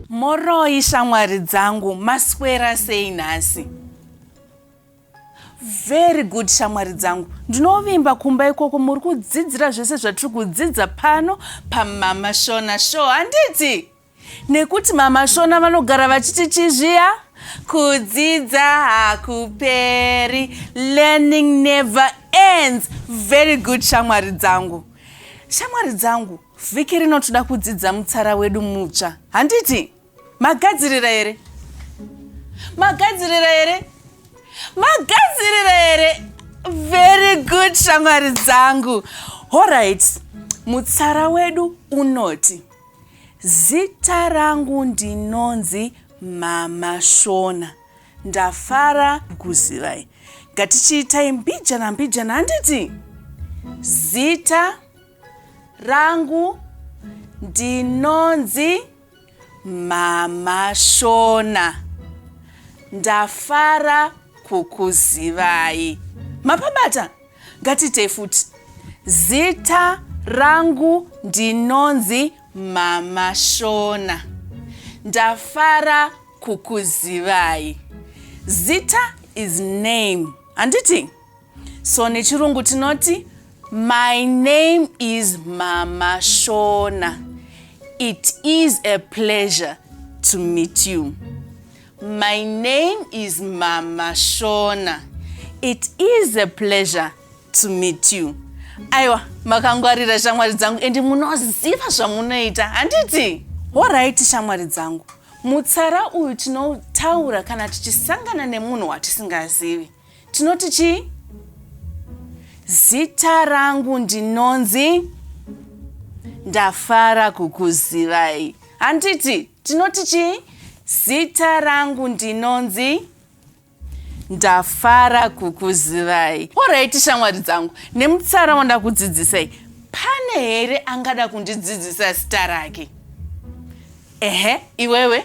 moroi shamwari dzangu maswera sei nhasi very good shamwari dzangu ndinovimba kumba ikoko muri kudzidzira zvese zvatiri kudzidza pano pamama shona show handiti nekuti mama shona vanogara vachiti chii zviya kudzidza hakuperi learning never ends very good shamwari dzangu shamwari dzangu vhiki rino toda kudzidza mutsara wedu mutsva handiti magadzirira here magadzirira here magadzirira here very good shamwari dzangu horit mutsara wedu unoti Zita rangu ndinonzi mama Shona. Ndafara kukuzivai. Ngatichiitai mbijana mbijana handiti? Zita rangu ndinonzi mama Shona. Ndafara kukuzivai. Mapabata? Ngatiitei futi. Zita rangu ndinonzi Mama Shona. Ndafara kukuzivai. Zita is name. Handiti? So nechirungu tinoti My name is Mama Shona. It is a pleasure to meet you. My name is Mama Shona. It is a pleasure to meet you. Aiwa, makangwarira shamwari dzangu and munoziva zvamunoita, handiti? Horaiti shamwari dzangu, mutsara uyu tinotaura kana tichisangana nemunhu watisingazivi. Tinoti chii? Zita rangu ndinonzi ndafara kukuzivai, handiti? Tinoti chii? Zita rangu ndinonzi ndafara kukuzivai. Oraiti shamwari dzangu, nemutsara wandakudzidzisai, pane here angada kundidzidzisa zita rake? Ehe, iwewe?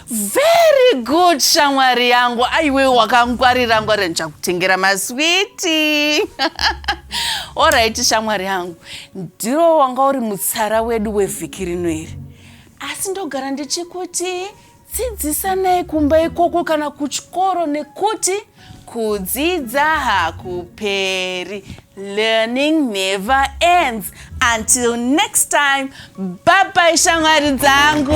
very good shamwari yangu aiwe wakangwarira ngwarira ndichakutengera maswiti orit shamwari yangu ndiro wanga uri mutsara wedu wevhiki rino iri asi ndogara ndichikuti dzidzisanai kumba ikoko kana kuchikoro nekuti kudzidza hakuperi learning never ends until next time babai shamwari dzangu